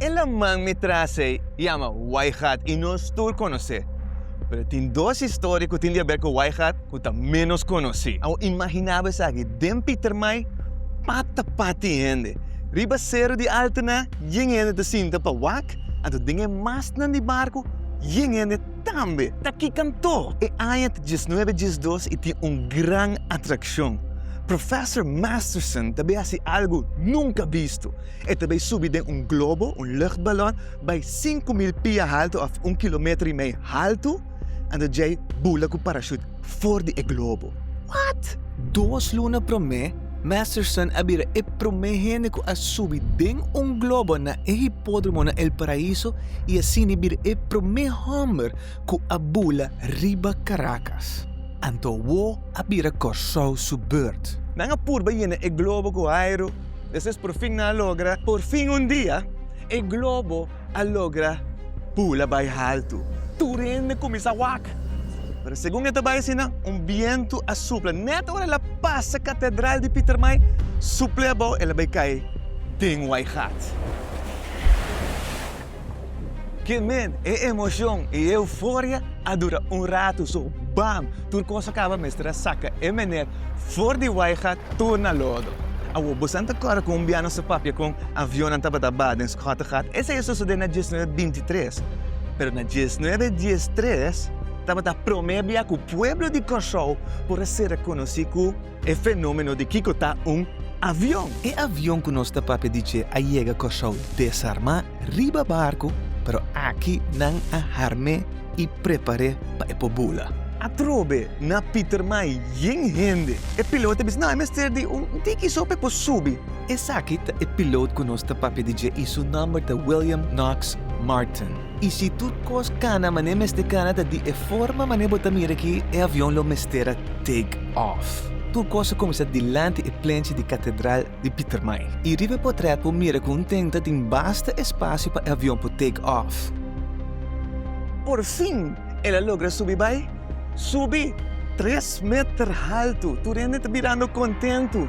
E laman mi tras ei yama Whiteheart i nos tur konos'é. Pero tin dos historia ku tin di habèr ku Whiteheart ku ta ménos konosí. Awor imaginá bo esaki, den Pietermaai pata pat tin hende. Riba Seru di Altena yen hende ta sinta pa wak, anto den e mastnan di barku yen hende tambe. Ta ki kantó! E aña ta diesnuebe diesdos i tin un gran atrakshon. Professor Masterson ta bin hasi algu nunka bisto. E ta bay subi den un globo, un luchtbalon, bay sinku mil pia haltu of un kilometer i mei haltu, anto djei bula ku parashut for di e globo. What! Dos luna promé, Masterson a bira e promé hende ku a subi den un globo na e hipódromo na El Paraíso i asini bira e promé hòmber ku a bula riba Karakas. Anto awó a bira Kòrsou su beurt. Nan a purba yena e globo ku airu. Despues por fin nan a logra. Por fin un dia e globo a logra bula bai haltu. Tur hende kuminsá wak. Pero segun e ta bai asina un bientu a supla. Nèt ora el a pasa katedral di Pietermaai suple abou el a bai kai den Waigat. Ke men, e emocion i e euforia a dura un ratu, so bam, tur cos a caba mester a saca e meneer for di waiga tur na lodo. Awor, bosan ta corre cu un bia nos a papia con avionnan tabata ba den Schottegat? Esei a sucede na diesnuebe bintitres. Pero na diesnuebe diestres tabata prome bia cu pueblo di Corsou por a ser reconoci cu. E fenomeno di kiko ta un avion. E avion ku nos ta papia di dje a yega Kòrsou desarmá riba barku, pero aki nan a harm'é i prepar'é pa e por bula. Atrobe na Pietermaai yen hende. E pilot a bisa, No, e mester di un tiki so pa e por subi. Esaki ta e pilot ku nos ta papia di dje i su nòmber ta William Knox Martin. I si tur kos kana manera e mester kana ta di e forma manera bo ta mira aki e avion lo mester a take off. Tur kos a kuminsá dilanti e plenchi di katedral di Pietermaai. I riba e potrèt por mira ku un tenta tin basta espasio pa e avion por take off. Por fin el a logra subi bai. Subi tres meter haltu. Tur hende ta mirando kontentu.